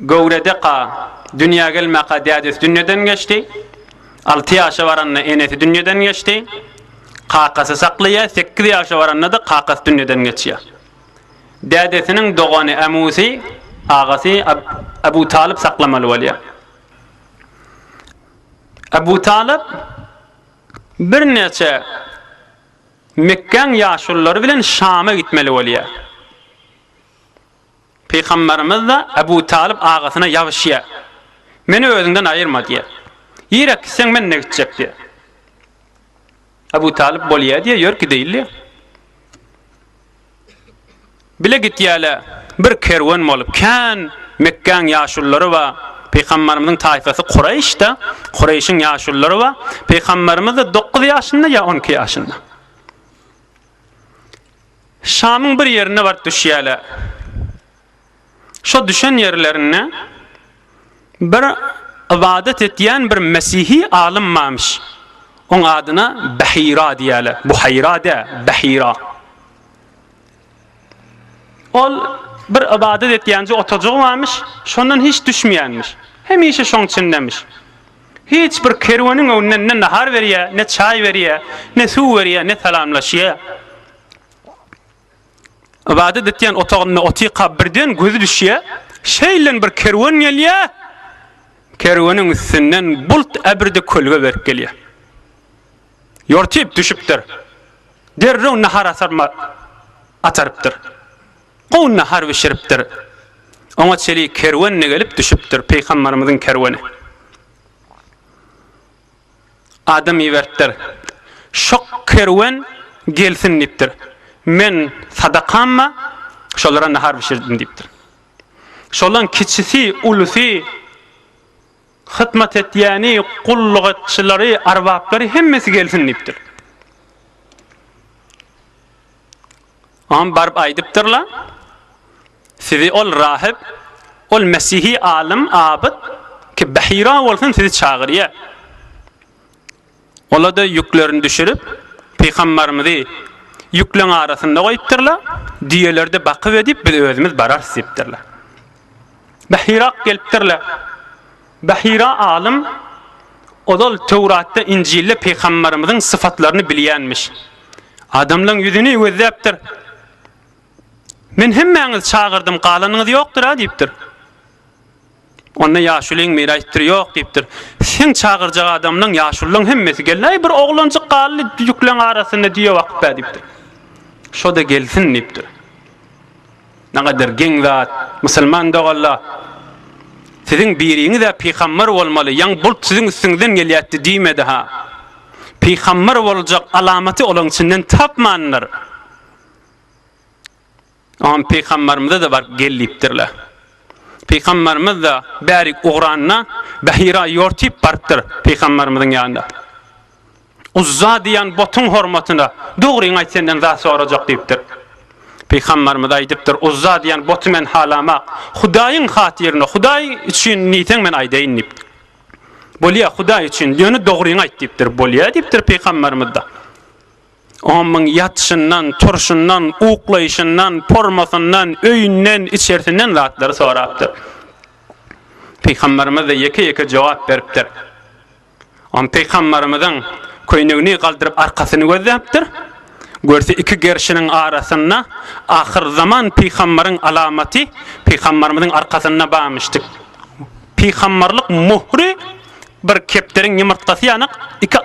Göwredeka dünýä gelmäka dädesi dünýeden geçdi. Alty ýaşa baranda enesi dünýeden geçdi. Kakasy saklaýar, sekiz ýaşa baranda-da kakasy dünýeden geçýär. Dädesiniň dogany Ämusy, agasy Abu Talyp saklamaly bolýar. Abu Talyp birnäçe Mekgäň ýaşululary bilen Şama gitmeli bolýar. Pygamberimiz-de Ebu Talyp agasyna ýabşýa, Meni özüňden aýyrma diýýär. Ýeräk gitseň men ne gitjek diýýär. Ebu Talyp bolýa diýýär, ýör gideýli diýýär. Bile gitýärler, bir kerwen bolup, kän Mekgäň ýaşulylary bar, Pygamberimiziň taýfasy Kureýş-de, Kureýşiň ýaşulylary bar, Pygamberimiz-de dokuz ýaşynda ýa on iki ýaşynda. Şamyň bir ýerine baryp düşýärler. Şo düşen ýerlerinde bir ybadat etýän bir mesihi alym barmyş. Oň adyna Bahira diýýärler. Buhaýra däl, Bahira. Ol bir ybadat etýänje otagjegy barmyş, şondan hiç düşmeýänmiş. Hemişe şoň içindemiş. Hiç bir kerweniň öňünden ne nahar berýär, ne çaý berýär, ne suw berýär, ne salamlaşýar. Ybadat etýän otagynda otyka birden gözi düşýär, şeýleden bir kerwen gelýär, kerweniň üstünden bult äbirdi kölge berip gelýär. Ýortip düşüpdir. Derrew nahar asarma atarypdyr. Gowy nahar bişiripdir. Oňa çelik kerwen-de gelip düşüpdir, pygambarymyzyň kerweni. Adam iberipdir. Şo kerwen gelsin diýipdir. Men sadakamma şolara nahar bişirdim diýipdir. Şolan kiçisi, ulusy Hyzmat etýäni, gulluk etçileri, arbaplary hemmesi gelsin diýipdir. Oňa baryp aýdypdyrlar, Sizi ol rahyp, ol mesihi alym, abyt, ki Bahira bolsun sizi çagyrýar. Ola-da ýüklerini düşürip, pygambarymyzy ýükleň arasynda goýupdyrlar, düýeleri-de bakyp edip, biz özümiz bararys diýipdirler. Bahira gelipdirler. Bahira alym ozal Töwratda, Injilde pygambarymyzyň syfatlaryny bilýänmiş. Adamlaryň ýüzüni gözläpdir. Men hemmäňizi çagyrdym, galanyňyz ýokdur-a diýipdir. Onda ýaşulyň mirasdüri ýok, diýipdir. Seň çagyrjak adamlaň, ýaşullaň hemmesi geldi. Äý, bir oglanjyk galdy düýekleriň arasynda düýe bakyp-ä, diýipdir. Şo-da gelsin, diýipdir. Nägadar geň zat, musulman doganlar! Siziň biriňiz-ä pygamber bolmaly, ýaňy bult siziň üstüňizden gelýätdi diýmedi-ha. Pygamber boljak alamaty olaň içinden tapmandyr. Oňa pygambarymyza-da baryp gel diýipdirler. Pygambarymyz-da bärik ugranda Bahira ýortip barypdyr pygambarymyzyň ýanyna. Uzza diýen butuň hormatyna dogryňy aýt senden zat sorajak diýipdir. Pygambarymyz aýdypdyr, Uzza diýen buty men halamak, Hudaýyň hatyryna, Hudaý üçin diýseň men aýdaýyn diýipdir. Bolýa Hudaý üçin, ýöne dogryňy aýt diýipdir. Bolýa diýipdir pygambarymyz-da. Omuň ýatyşyndan, turşundan, uklaýşyndan, pormasyndan, öýünden, içersinden zatlary sorapdyr. Pygamberimiz-de ýeke-ýeke jogap beripdir. Om pygamberimiziň köýnegini galdyryp arkasyny gözläpdir. Görse iki gerşiniň arasynda ahyrzaman pygamberiň alamaty pygamberimiziň arkasynda barmyşdyk. Pygamberlik muhry bir kepderiň ýumurtgasy ýanak iki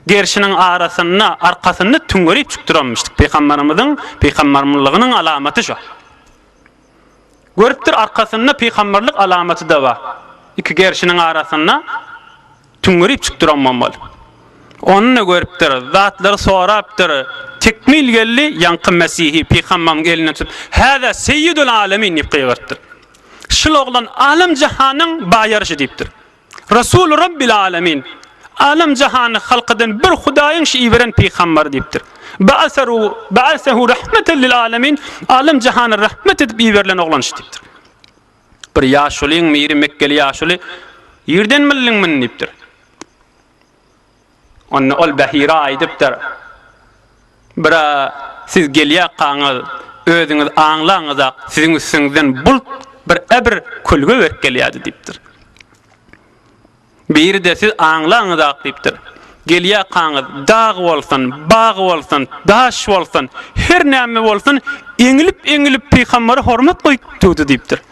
Gerşiniň arasynda arkasyny tüňňerip çykdyranmyşdyk. Pygambarymyzyň pygambarmylygynyň alamaty şo. Görüpdir, arkasynda pygambarlyk alamaty-da bar. Iki gerşiniň arasynda tüňňerip çykdyran bolmaly. Ony-da görüpdir, zatlary sorapdyr. Tekmil geldi, ýaňky Mesihi pygambarymyň elinden tutup, Häzä seýýidül alemin! diýip gygyrtdyr. Şul oglan alem-jahanyň baýaryşy diýipdir. Resul Rabbil Alemin, Alem jahany halk eden bir Hudaýyň şu iberen pygambary diýipdir. Ba'asaru ba'asahu rahmeten lil alemin, Alem jahana rahmet edip iberilen oglan şu diýipdir. Bir ýaşulyň biri mekgeli ýaşuly, Ýerden bildiňmi? diýipdir. Onda ol Behira aýdypdyr, Bira, siz gelýärkaňyz, özüňiz aňlaňyzak, siziň üstüňizden bult bir äbir kölge berip gelýärdi diýipdir. Biri-de siz aňlaňyzak diýipdir. Gelýärkaňyz, dag bolsun, bag bolsun, daş bolsun, her näme bolsun, eňilip-eňilip pygambere hormat goýup durdy diýipdir.